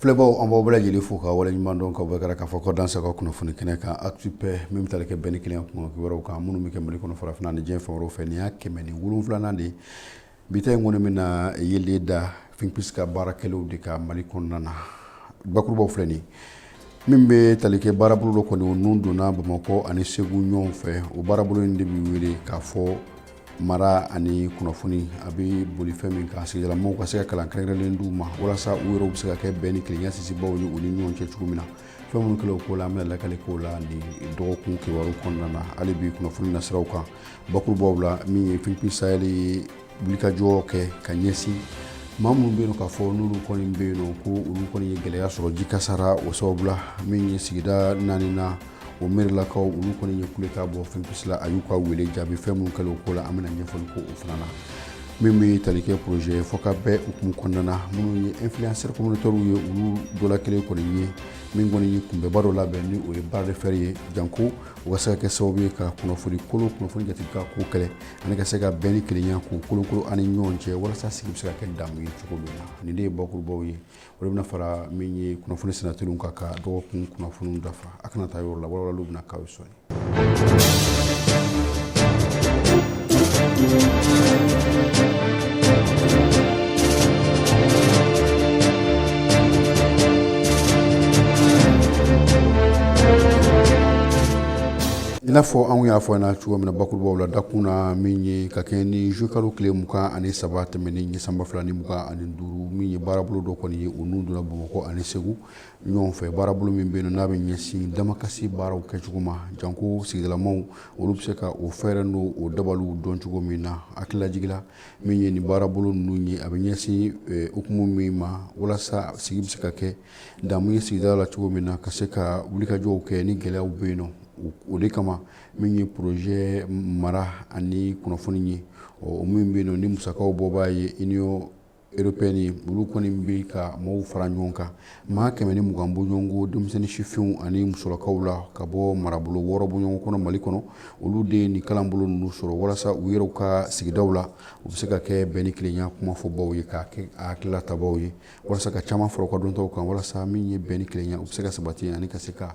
Filɛbaw an b'aw bɛɛ lajɛlen fo ka waleɲumandɔn ka bɔ kɛra k'a fɔ k'aw danse a ka kunnafoni kɛnɛ kan Actu Paix min bɛ tali kɛ bɛn ni kelen kun kibaruw kan minnu bɛ kɛ mali kɔnɔ farafinna ani diɲɛ fan wɛrɛw fɛ nin y'a kɛmɛ ni wolonwulanan de ye bi ta in kɔni bɛna yeelen da Think Peace ka baara kɛlenw de kan mali kɔnɔna na bakurubaw filɛ nin min bɛ tali kɛ baarabolo dɔ kɔni nun donna bamakɔ ani segu ɲɔgɔn fɛ o baarabolo in de bɛ wele k'a fɔ mara ani kunnafoni a bɛ boli fɛn min kan sigidalamaw ka se ka kalan kɛrɛnkɛrɛnlen d'u ma walasa u yɛrɛw bɛ se ka kɛ bɛn ni kelenya sinsinbaw ye u ni ɲɔgɔn cɛ cogo min na fɛn minnu kɛlen o ko la an bɛna lakali k'o la nin dɔgɔkun kibaru kɔnɔna na hali bi kunnafoni nasiraw kan bakurubaw la min ye Think Peace Sahel ye wulikajɔ kɛ ka ɲɛsin maa minnu bɛ yen k'a fɔ n'olu kɔni bɛ yen ko olu kɔni ye gɛlɛya sɔrɔ ji kasara o sababu la min ye sigida naani na o mɛrilakaw olu kɔni ye kulekan bɔ Think Peace la a y'u ka wele jaabi fɛn minnu kɛlen o ko la an bɛna ɲɛfɔli kɛ o fana na min bɛ tali kɛ projet ye fɔ ka bɛɛ hukumu kɔnɔna na minnu ye influenceur communautaire ye olu dɔ la kelen kɔni ye min kɔni ye kunbɛnba dɔ labɛn ni o ye bras de fer ye janko o ka se ka kɛ sababu ye ka kunnafoni kolon kunnafoni jate ka ko kɛlɛ ani ka se ka bɛn ni kelenya k'u kolokolo an ni ɲɔgɔn cɛ walasa sigi bɛ se ka kɛ damu ye cogo min na nin de ye bakurubaw ye o de bɛna fara min ye kunnafoni senatɛriw kan ka dɔgɔkun kunnafoniw dafa a kana taa yɔrɔ la walawalaliw bɛna k'aw ye sɔɔni i n'a fɔ anw y'a fɔ na cogo min na bakurubaw la dakun na min ye ka kɛɲɛ ni zuwɛnkalo tile mugan ani saba tɛmɛnen ye san ba fila ni mugan ani duuru min ye baarabolo dɔ kɔni ye o nun donna bamakɔ ani segu ɲɔgɔn fɛ baarabolo min bɛ yen n'a bɛ ɲɛsin damakasi baaraw kɛcogo ma janko sigidalamaw olu bɛ se ka o fɛɛrɛ n'o dabaliw dɔn cogo min na hakililajigin na min ye nin baarabolo ninnu ye a bɛ ɲɛsin eh, hukumu min ma walasa sigi bɛ se ka kɛ damu ye sigida la cogo min na ka se ka wulikajɔw kɛ ni gɛlɛyaw bɛ yen nɔ o de kama min ye porozjɛ mara ani kunnafoni ye o min bɛ yen ni musakaw bɔbaa ye Union européenne ni olu kɔni bɛ ka maaw fara ɲɔgɔn kan maa kɛmɛ ni mugan bɔɲɔgɔnko denmisɛnnin sifinw ani musolakaw la ka bɔ marabolo wɔɔrɔ bɔɲɔgɔnko kɔnɔ mali kɔnɔ olu de ye nin kalanbolo ninnu sɔrɔ walasa u yɛrɛ ka sigidaw la u bɛ se ka kɛ bɛn ni kelenya kumafɔbaw ye ka kɛ a hakilila tabaa ye walasa ka caman fara u ka dɔnta kan walasa min ye bɛn ni kelenya u bɛ se ka sabati ani ka se ka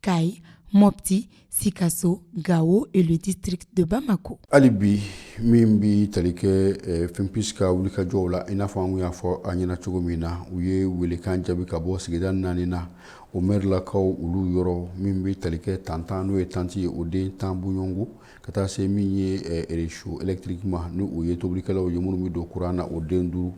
kayi mɔti sikaso gawo et le district de bamakɔ hali bi min bɛ tali kɛ eh, Think Peace ka wulikajɔw la i n'a fɔ an y'a fɔ a ɲɛna cogo min na u ye welekan jaabi ka bɔ sigida naani na o mɛrilakaw olu yɔrɔ min bɛ tali kɛ tantan n'o ye tanti ye o den tan bɔɲɔgɔnko ka taa se min ye eh, réchaud électrique ma ni u ye tobilikɛlanw ye minnu bɛ don kuran na o den duuru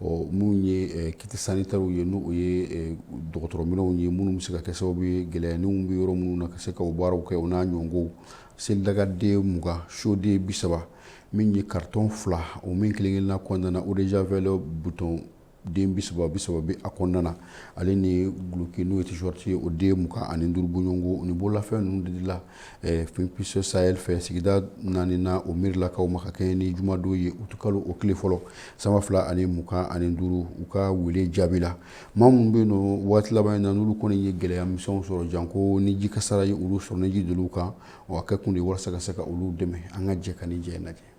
ɔ minnu ye kits sanitaires ye n'o ye dɔgɔtɔrɔ minɛnw ye minnu bɛ se ka kɛ sababu ye gɛlɛya nin bɛ yɔrɔ minnu na ka se ka o baaraw kɛ o n'a ɲɔgɔn selidaga den mugan siyo den bi saba min ye karitɔn fila o min kelenkelenla kɔnɔna na eau de javel buteli den bi saba bi saba bɛ a kɔnɔna na ale ni duloki n'o ye tee-shirt ye o den mugan ani duuru bɔ ɲɔgɔn ko ni bololafɛn ninnu de dila Think Peace Sahel fɛ sigida naaninan o mɛrilakaw ma ka kɛɲɛ ni jumadon ye utu kalo o tile fɔlɔ sanba fila ani mugan ani duuru u ka weele jaabi la maa minnu bɛ yen nɔ waati laban in na n'olu kɔni ye gɛlɛya misɛn sɔrɔ janko ni jikasara ye olu sɔrɔ ni ji don olu kan a kɛ kun de walasa ka se ka olu dɛmɛ an ka jɛ ka nin ja lajɛ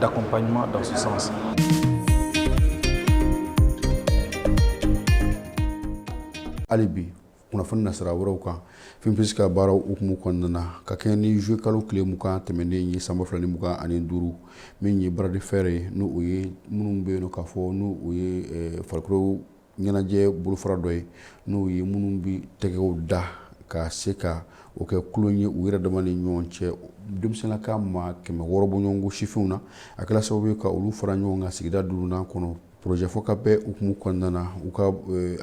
d'accompagnement dans ce sens. hali bi kunnafoni nasira wɛrɛw kan Think Peace ka baaraw hukumu kɔnɔna na ka kɛɲɛ ni zuwe kalo tile mugan tɛmɛnen ye sanba fila ni mugan ani duuru min ye bras de fer ye n'o o ye minnu bɛ yen nɔ k'a fɔ n'o o ye farikolo ɲɛnajɛ bolofara dɔ ye n'o ye minnu bɛ tɛgɛw da ka se ka o kɛ tulon ye u yɛrɛ dama ni ɲɔgɔn cɛ denmisɛnninka maa kɛmɛ wɔɔrɔ bɔ ɲɔgɔn ko sifinw na a kɛra sababu ye ka olu fara ɲɔgɔn kan sigida duurunan kɔnɔ projet Fɔkabɛn hukumu kɔnɔna na u ka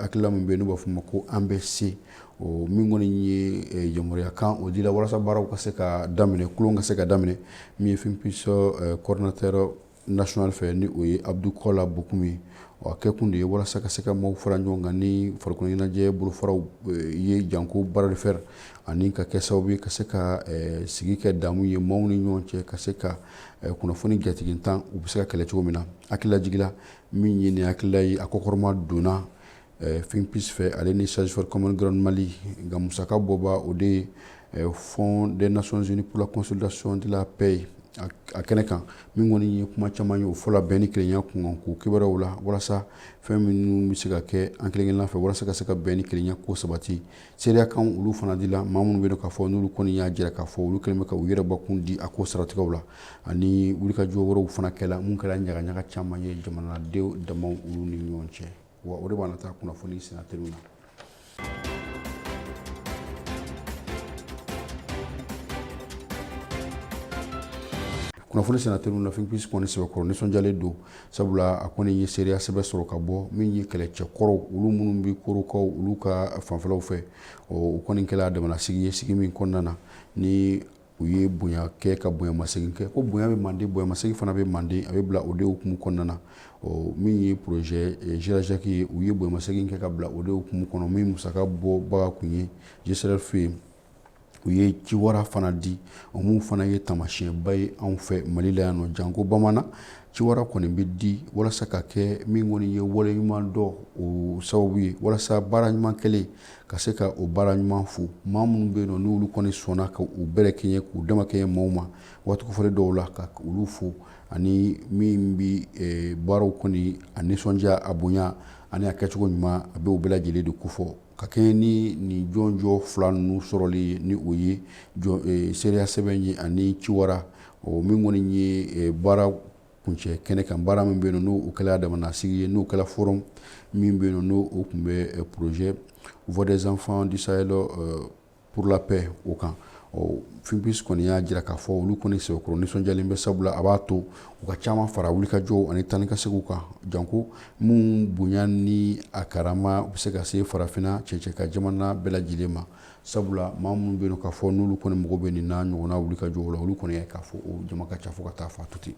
hakilila min bɛ yen n'u b'a fɔ ma ko an bɛ se o min kɔni ye yamaruya kan o dira walasa baaraw ka se ka daminɛ tulon ka se ka daminɛ min ye Think Peace coordinateur national fɛ ni o ye Abdou Kola Bokoum ye a kɛ kun de ye walasa ka se ka maaw fara ɲɔgɔn kan ni farikolo ɲɛnajɛ bolofaraw eh, ye janko bras de fer ani ka kɛ sababu ye ka se ka eh, sigi kɛ damu ye maaw ni ɲɔgɔn cɛ ka se ka eh, kunnafoni jatigintan u bɛ se ka kɛlɛ cogo min na hakilila jigila min ye nin hakilila ye a kɔkɔrɔma donna Think Peace fɛ ale ni Search for Common Ground Mali nka musaka bɔbaa o de ye Fonds des Nations Unies pour la consolidation de la paix ye a kɛnɛ kan min kɔni ye kuma caman ye o fɔla bɛn ni kelenya kunkan ko kibaruyaw la walasa fɛn minnu bɛ se ka kɛ an kelenkelenna fɛ walasa ka se ka bɛn ni kelenya ko sabati seereya kan olu fana dila maa minnu bɛ yen k'a fɔ n'olu kɔni y'a jira k'a fɔ olu kɛlen bɛ ka u yɛrɛ bakun di a ko saratigɛw la ani wulikajɔ wɛrɛw fana kɛla minnu kɛra ɲagaɲaga caman ye jamanadenw dama olu ni ɲɔgɔn cɛ wa o de b'an nata kunnafoni sennateliw na kunnafoni sennateliw na Think Peace kɔni sɛbɛkɔrɔ nisɔndiyalen don sabula a kɔni ye seereya sɛbɛn sɔrɔ ka bɔ min ye kɛlɛcɛ kɔrɔw olu minnu bɛ korokaw olu ka fanfɛlaw fɛ o kɔni kɛla damanasigi ye sigi min kɔnɔna na ni u ye bonya kɛ ka bonyamasegin kɛ ko bonya bɛ mande bonyamasegin fana bɛ mande a bɛ bila o de hukumu kɔnɔna na ɔ min ye projet jirajaki eh, ye u ye bonyamasegin kɛ ka bila o de hukumu kɔnɔ min musaka bɔbaga kun ye gcerf ye u ye ciwara fana di o mun fana ye tamasiyɛnba ye anw fɛ mali la yan nɔ janko bamanan ciwara kɔni bɛ di walasa ka kɛ min kɔni ye waleɲumandɔn sababu ye walasa baara ɲuman kɛlen ka se ka o baara ɲuman fo maa minnu bɛ yen nɔ n'olu kɔni sɔnna ka u bɛrɛ kɛɲɛ k'u dama kɛɲɛ maaw ma waati kofɔlen dɔw la ka olu fo ani min bɛ eh, baaraw kɔni a nisɔndiya a bonya ani a kɛcogo ɲuman a bɛ o bɛɛ lajɛlen de kofɔ ka kɛɲɛ ni nin jɔnjɔn fila ninnu sɔrɔli ye ni o ye eh, seereya sɛbɛn ye ani ciwara min kɔni ye eh, baara kuncɛ kɛnɛ kan baara min bɛ yen n'o kɛla damanasigi ye n'o kɛla forum min bɛ yen n'o kun bɛ projet voix des enfants du sahel pour la paix o kan ɔ think peace kɔni y'a jira k'a fɔ olu kɔni sɛbɛkɔrɔ nisɔndiyalen bɛ sabula a b'a to u ka caman fara wulikajɔw ani taa ni ka seginw kan janko min bonya ni a karama u bɛ se ka se farafinna cɛcɛ ka jamana bɛɛ lajɛlen ma sabula maa minnu bɛ k'a fɔ n'olu kɔni mago bɛ nin n'a ɲɔgɔnna wulikajɔw la olu kɔni k'a fɔ o jama ka ca fo ka taa f'a to ten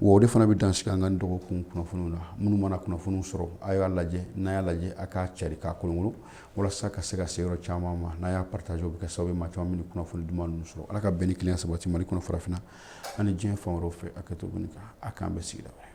wa o de fana bɛ dan sigi an ka dɔgɔkun kunnafoniw na minnu mana kunnafoniw sɔrɔ a y'a lajɛ n'a y'a lajɛ a k'a cari k'a kolonkolon walasa ka se ka se yɔrɔ caman ma n'a y'a partage o bɛ kɛ sababu ye maa caman bɛ kunnafoni duman ninnu sɔrɔ ala ka bɛn ni kelenya sabati mali kɔnɔ farafinna ani diɲɛ fan wɛrɛw fɛ a kɛ to kan a k'an bɛn sigida wɛrɛ